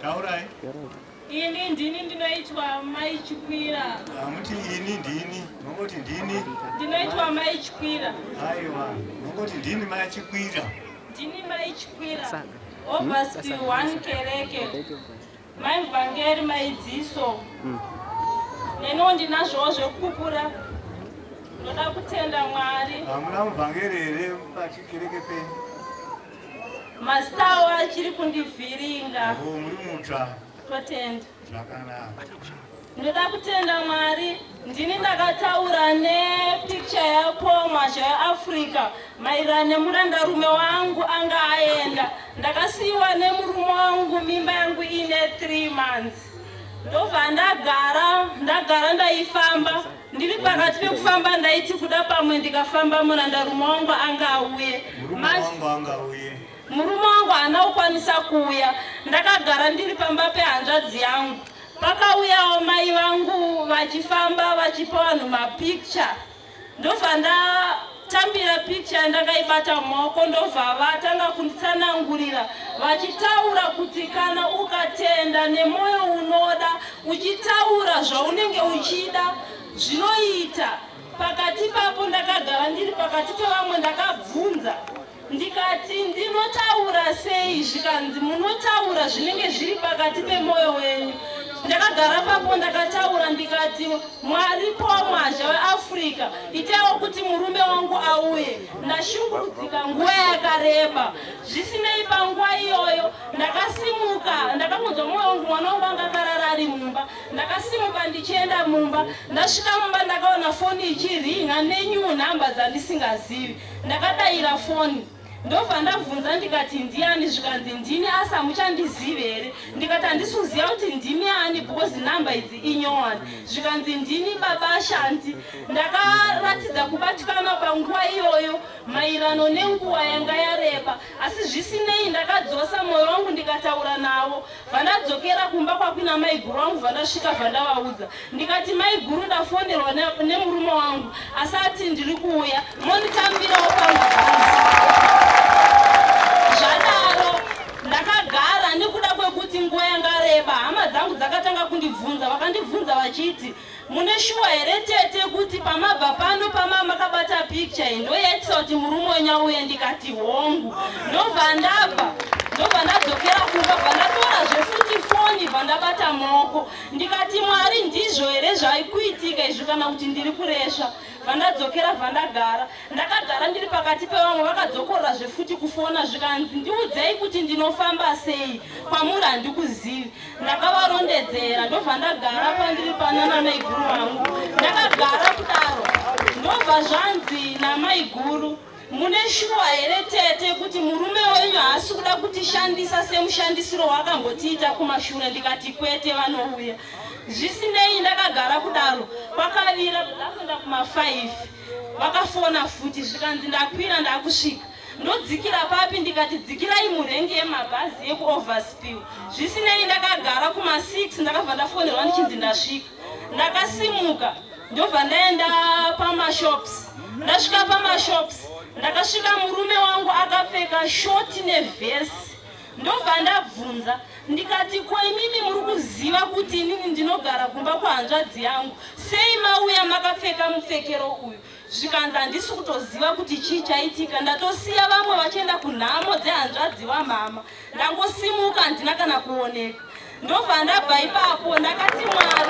taurai ini ndini ndinoitwa mai chikwira hamuti ah, ini ndini mongoti ndini ndinoitwa mai chikwira aiwa mongoti ndini mai chikwira ndini mai chikwira obvasti hmm? one kereke mai vhangeri maidziso hmm. neniwo ndinazvowo zvekupupura ndoda kutenda mwari hamuna muvhangeri here pachikereke penyu Mastawo achiri kundivhiringa. Oh, muri mutsva. Totenda. Zvakanaka. Ndoda kutenda Mwari, ndini ndakataura nepicture yako mazha yeAfrica mairana nemurandarume wangu anga aenda. Ndakasiyiwa nemurume wangu mimba yangu ine 3 months. Ndobva ndagara, ndagara ndaifamba. Ndiri pakati pekufamba ndaiti kuda pamwe ndikafamba murandarume wangu anga auye. Murume wangu haana kukwanisa kuuya. Ndakagara ndiri pamba pehanzvadzi yangu. Pakauyawo mai vangu vachifamba vachipa vanhu mapicture. Ndobva nda Tambira picture ndakaibata mumaoko ndobva vatanga kunditsanangurira vachitaura kuti kana ukatenda nemoyo unoda uchitaura zvaunenge uchida zvinoita pakati papo ndakagara ndiri pakati pevamwe ndakabvunza Ndikati, Ndinotaura sei? Zvikanzi, Munotaura zvinenge zviri pakati pemwoyo wenyu. Ndakagara papo ndakataura ndikati, Mwari pamwazha weAfrica, itaiwo kuti murume wangu auye. Ndashungurudzika nguva yakareba. Zvisinei, panguva iyoyo ndakasimuka, ndakangonzwa mwoyo wangu, mwana wangu anga akarara ari mumba. Ndakasimuka ndichienda mumba. Ndasvika mumba ndakaona foni ichiringa nenew number dzandisingazivi. Ndakadaira foni ndobva ndabvunza ndikati ndiani zvikanzi ndini asi hamuchandizive here ndikati handisi kuziva kuti ndimi ani because number idzi inyowani zvikanzi ndini baba ashanti ndakaratidza kubatikana panguva iyoyo mairano nenguva yanga yareba Asi zvisinei ndakadzosa moyo wangu ndikataura navo. Vandadzokera kumba kwakuina maiguru wangu vandasvika vandavaudza. Ndikati maiguru ndafonerwa ne, nemurume wangu asi ati ndiri kuuya monditambirawo pangu zvadaro ndakagara nekuda kwekuti nguva yanga reba hama dzangu dzakatanga kundibvunza vakandibvunza vachiti Mune shuwa here tete kuti pamabva pano pama makabata picture iyi ndo yaitisa kuti murume wenyu auye ndikati hongu ndobva ndabva ndobva ndadzokera kumba bva ndatora zvefuti foni bva ndabata maoko ndikati mwari ndizvo here zvaikuitika izvi kana kuti ndiri kuresva vandadzokera vandagara ndakagara ndiri pakati pevamwe vakadzokorora zvefuti kufona zvikanzi ndiudzei kuti ndinofamba sei kwamuri handikuzivi ndakavarondedzera ndobva ndagara pandiri pana namaiguru vangu ndakagara kudaro ndobva zvanzi namaiguru mune shuwa here tete kuti murume wenyu haasi kuda kutishandisa semushandisiro waakambotiita kumashure ndikati kwete vanouya zvisinei ndakagara kudaro kwakavira ndakuenda kuma5 vakafona futi zvikanzi ndakwira ndakusvika Ndodzikira papi ndikati dzikirai murengi yemabhazi yekuoverspill. Zvisinei ndakagara kuma 6 ndakabva ndafonerwa ndichinzi ndasvika. Ndakasimuka ndobva ndaenda pamashops. Ndasvika pamashops ndakasvika murume wangu akapfeka shoti nevhesi ndobva ndabvunza ndikati ko imimi muri kuziva kuti inini ndinogara kumba kwahanzvadzi yangu sei mauya makapfeka mupfekero uyu zvikanzi handisi kutoziva kuti chii chaitika ndatosiya vamwe vachienda kunhamo dzehanzvadzi wamhama ndangosimuka handina kana kuoneka ndobva ndabva ipapo ndakati mwari